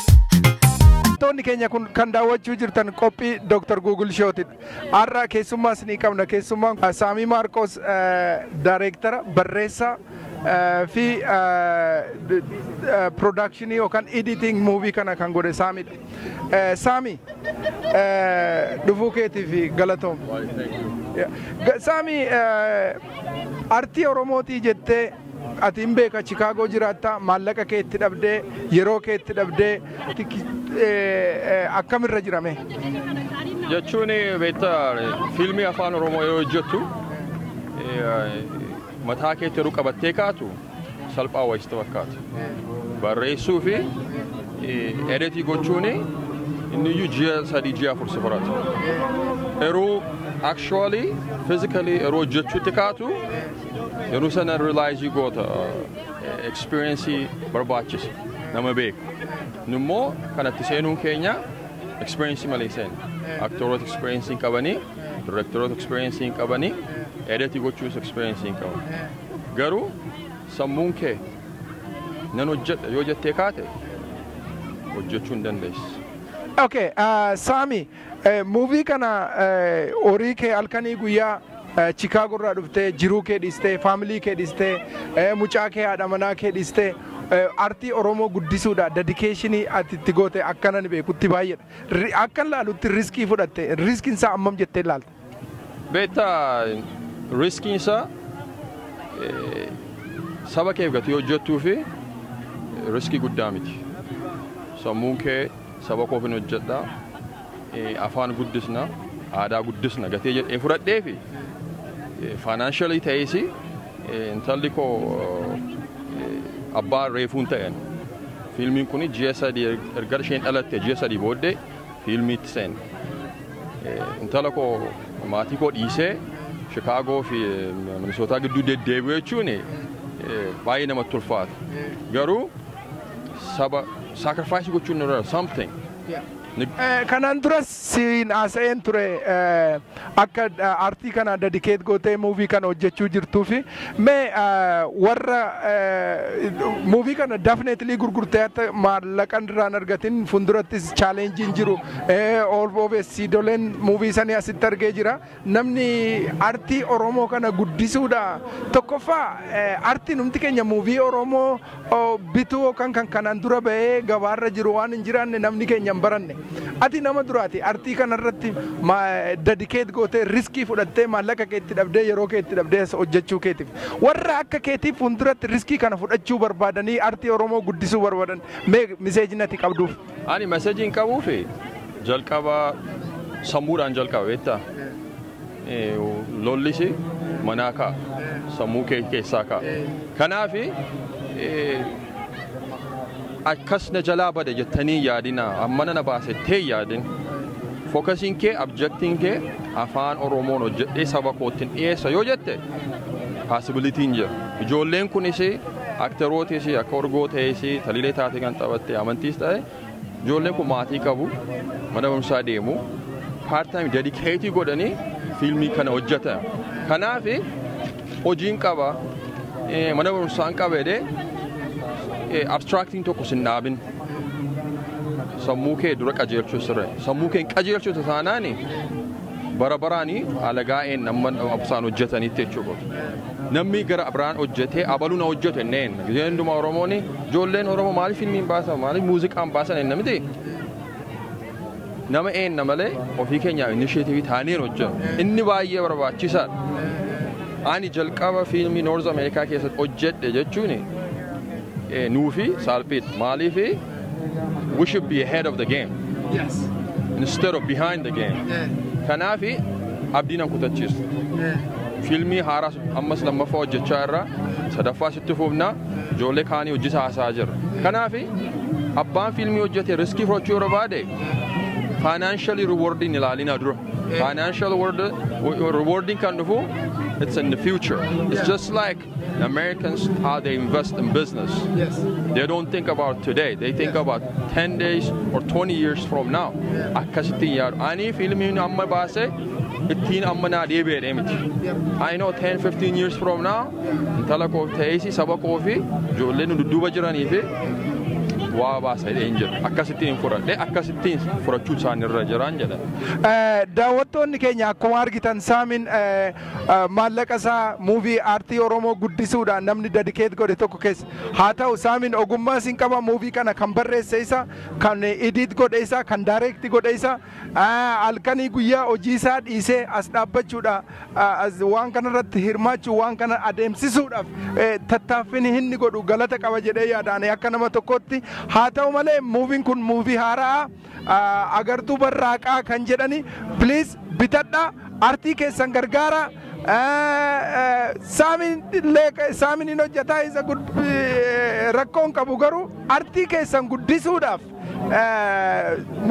Daawwattoonni keenya kun kan daawwachuu jirtan qophii Dr. Google Show'ti. Har'a keessummaa isinii qabna. Keessummaan kun Saamii Maarqoos daayireektara barreessaa eh, fi piroodakshinii yookaan editing muuvii kana kan godhe Saamidha. Eh, Saami eh, dhufuu keetiif galatoom. Yeah. Ga- Saami eh, artii Oromootii jettee Ati hin beeka Chikaagoo jiraatta maallaqa kee itti dhabdee yeroo kee itti dhabdee akkamirra jira mee? Jechuun beekta fiilmii afaan Oromoo yoo hojjettu mataa keetti yeroo qabattee kaatu salphaa wayista fakkaata. Barreessuu fi edetii gochuun inni iyyuu ji'a sadii ji'a afur si fudhata. Yeroo actually physically yeroo hojjechuutti kaatu Yeroo sana rilaayizii goota ekspeeriyensii barbaachisa nama beeku. Nu immoo kanatti seenuun keenya ekspeeriyensii malee seenu. Aktooroota ekspeeriyensii hin qabanii, direektaroota ekspeeriyensii hin qabanii, eedatii gochuus ekspeeriyensii hin qaban. Garuu sammuun kee nan hojjedha yoo jettee kaate hojjechuu hin dandeessi. Okay, uh, Sami, Movie kana horii kee halkanii guyyaa Chicago irraa dhuftee jiruu kee dhiistee family kee dhiistee mucaa kee haadha manaa kee dhiistee artii Oromoo guddisuudha dedication ati itti goote akkana ni beekutti baay'eedha. Akkan laalutti riskii fudhatte riskiin isaa ammam jettee laalta? Beektaa riskiin isaa saba keef gatii hojjettuu fi riskii guddaa miti. Sammuun kee saba koof hin hojjedha, afaan guddisna, aadaa guddisna gatee jedhee fudhadhee fi financially ta'ees intalli koo abbaa reefuun ta'een fiilmiin kun ji'a sadii erga isheen dhalatte ji'a sadii booddee fiilmiitti seene. Intala koo maatii koo dhiisee Shikaagoo fi Minisootaa gidduu deddeebi'u jechuun baay'ee namatti ulfaata. Garuu saba sacrifice gochuun irra something. Kanaan duras siin haasa'een ture. Akka artii kana dedicate gootee movie kana hojjechuu jirtuufi mee warra movie kana definitely gurgurtee hatta maallaqan irraa hin argatin fundurattis challenge hin jiru all of us siidoleen movie sanii asitti argee jira namni artii oromoo kana guddisuudha tokkoffaa artiin humti keenya movie oromoo bituo kan kan kanaan dura ba'ee gabaarra jiru waan hin jiraanne namni keenya hin baranne. Ati nama duraati artii kanarratti dedicate gootee riskii fudhattee maallaqa kee itti dhabdee yeroo kee itti dhabdee as hojjechuu keetiif. Warra akka keetii fuulduratti riskii kana fudhachuu barbaadanii artii Oromoo guddisuu barbaadan mee miseejin ati qabduuf. Ani meseejiin qabuufi jalqaba sammuudhaan jalqaba beektaa. Lollisi manaa ka'a. Sammuu kee keessaa ka'a. Kanaaf akkas na jalaa bada jettanii hin yaadinaa. Ammana na baase jettee hin yaadin. Fokasiin kee, abjektiin kee afaan Oromoon hojjedhee saba koottin dhiyeessa yoo jette paasibilitiin jira. Ijoolleen kunis akterootis akka orgoo ta'es talilee taate kan taphatte amantiis ta'e Ijoolleen kun maatii qabu, mana barumsaa deemu, part time dedikeetii godhanii fiilmii kana hojjetan. Kanaaf hojiin qaba, mana barumsaan qaba jedhee abstraaktiin tokko sin dhaabin. Sammuu kee dura qajeelchuu sirra. Sammuu kee hin qajeelchitu taanaan Bara baraani alagaa een amma absaan hojjetanitti jechuu kooti. Namni gara biraan hojjetee abaluu na hojjete inni een. Gizee hundumaa Oromoon ijoolleen Oromoo maaliif filmiin baasan maaliif muuziqaan baasan eenna miti. Nama eenna malee ofii keenyaaf inisheetiivii taaneen hojjennu. Inni baay'ee barbaachisaadha. Ani jalqaba fiilmii Noorz Ameerikaa keessatti hojjedhe jechuun nuufi saalphiidha. Maaliif We should be ahead of the game Yes. instead of behind the game. Eh, Kanaafi abdii nan kutachiisu. eh. Fiilmii haaraas ammas lammaffaa hojjechaa irra sadaffaa sitti fuufna ijoollee kaanii hojjisa haasaa jirra. Kanaafi abbaan fiilmii hojjete riskii fudhachuu yeroo baade faayinaanshalii riwoordiin ilaalinaa dura. Faayinaanshalii riwoordiin kan dhufu it's in the future. It's just like The Americans, how they invest in business, Yes. they don't think about today. They think about 10 days or 20 years from now. Akkasittiin yaadu. Ani fiilmiin amma baase ittiin amma naa deebi'ee miti. I know 10, 15 years from now, intala koo ta'eesi saba koo fi ijoolleen nu dudduuba jiranii fi waa baasa jedhee hin jedhu. Akkasittiin hin fudhadhe, akkasittiin fudhachuu isaanii irra jiraan jedhan. Eh, daawwattoonni keenya akkuma argitan saamiin eh, Maallaqa isaa movie aartii Oromoo guddisuudhaan namni dedicate godhe tokko keessa. Haa ta'u Saamin ogummaa siin qaba movie kana kan barreesse isa, kan edit godhe isa, kan direct godhe isa. Halkanii guyyaa hojii isaa dhiisee as dhaabbachuudha waan kana irratti hirmaachuu waan kana adeemsisuudhaaf tattaaffin inni godhu galata qaba jedhee yaada ani akka nama tokkootti. Haa ta'u malee muuviin kun muuvii haara'aa. agartuu barraaqaa kan jedhani please bitadha artii keessan gargaara saamin illee saamin hin hojjetaa isa rakkoon qabu garuu artii keessan guddisuudhaaf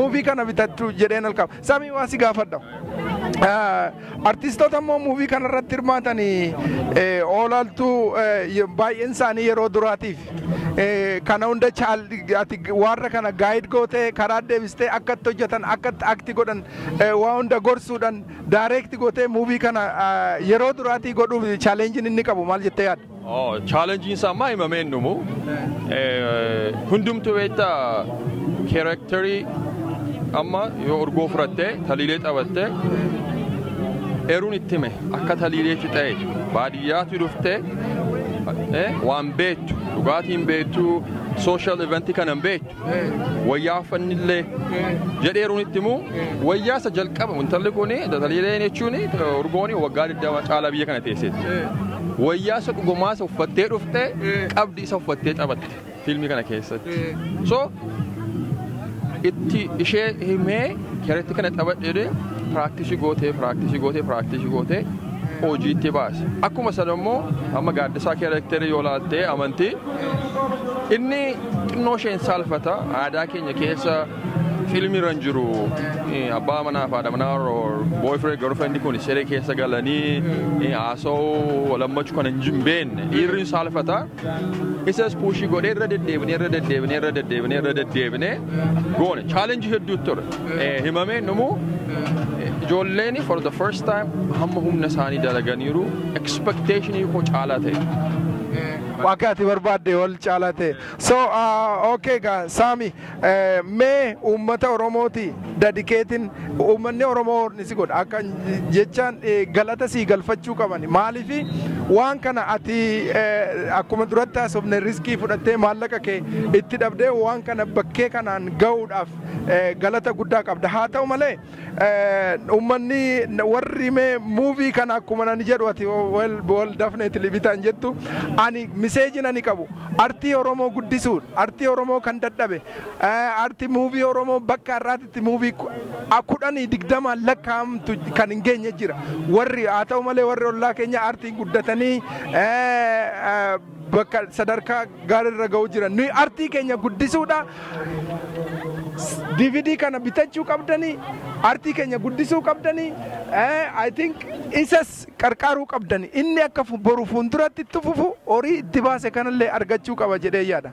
muuvii kana bitachuu jedheen halkaba saamii waa si gaafadha Artistoota immoo muuvii kanarratti hirmaatan oolaaltuu baay'een isaanii yeroo duraatiif kana hunda ati warra kana gaayid gootee karaa deebistee akka itti hojjetan akka itti akti godhan waa hunda gorsuudhaan daayireekti gootee muuvii kana yeroo duraatii godhuuf chaaleenjiin inni qabu maal jettee yaadda? Chaalenjiin isaa ammaa himamee hin dhumu. Hundumtuu beekta keerektarii amma yoo urgoo fudhattee taliilee taphattee eeruun itti hime akka taliilee fixee baadiyyaatu dhuftee waan beektu dhugaatiin beektu sooshaal eventii kana hin beektu. wayyaa uffannillee jedheeruun itti immoo wayyaa isa jalqaba intalli kun tataliileen jechuun urgooni waggaa 20 caalaa biyya kana teesseeti. Wayyaa isa dhugumaa isa uffattee dhufte qabdi isa uffattee taphatte fiilmii kana keessatti. So itti ishee himee keretti kana taphadhee piraaktisii gootee piraaktisii gootee piraaktisii gootee hojiitti baase. Akkuma sana immoo amma gaaddisaa keerekterii yoo laaltee amantii Inni xinnoo isheen saalfata aadaa keenya keessa fiilmiirra hin jiru abbaa manaa fi haadha manaa boyfriend girlfriend kun siree keessa galanii haasa'uu lammachuu kan hin beekne dhiirri hin saalfata isas puushii godhee irra deddeebinee irra deddeebinee irra deddeebinee irra deddeebinee goone chaalenjii hedduu ture himamee numu ijoolleen for the first time hamma humna isaanii dalaganiiru expectationii koo caalaa ta'e. Akka ati barbaadde ol caalaa ta'e. So uh, okay gaa Saami eh, mee uummata Oromooti dadikeetiin uummanni Oromoo horni si godha akka jechaan eh, galata sii galfachuu qaban maaliif waan kana ati eh, akkuma duratti haasofne riskii fudhattee maallaqa kee itti dhabdee waan kana bakkee kanaan ga'uudhaaf eh, galata guddaa qabda haa ta'u malee Uummanni warri mee muuvii kana akkuma nani jedhu ati wal dafneetili bitaan jettu ani miseejiin ani qabu artii Oromoo guddisuun artii Oromoo kan dadhabe artii muuvii Oromoo bakka har'aatitti muuvii kudhanii digdamaan lakkaa'amtu kan hin geenye jira warri haa ta'u malee warri ollaa keenya artiin guddatanii bakka sadarkaa gaarii irra ga'uu jiran nuyi artii keenya guddisuudha DVD kana bitachuu qabdanii artii keenya guddisuu qabdanii I think isas qarqaaruu qabdanii inni akka boru fuulduratti itti fufu horii itti baase kanallee argachuu qaba jedhee yaada.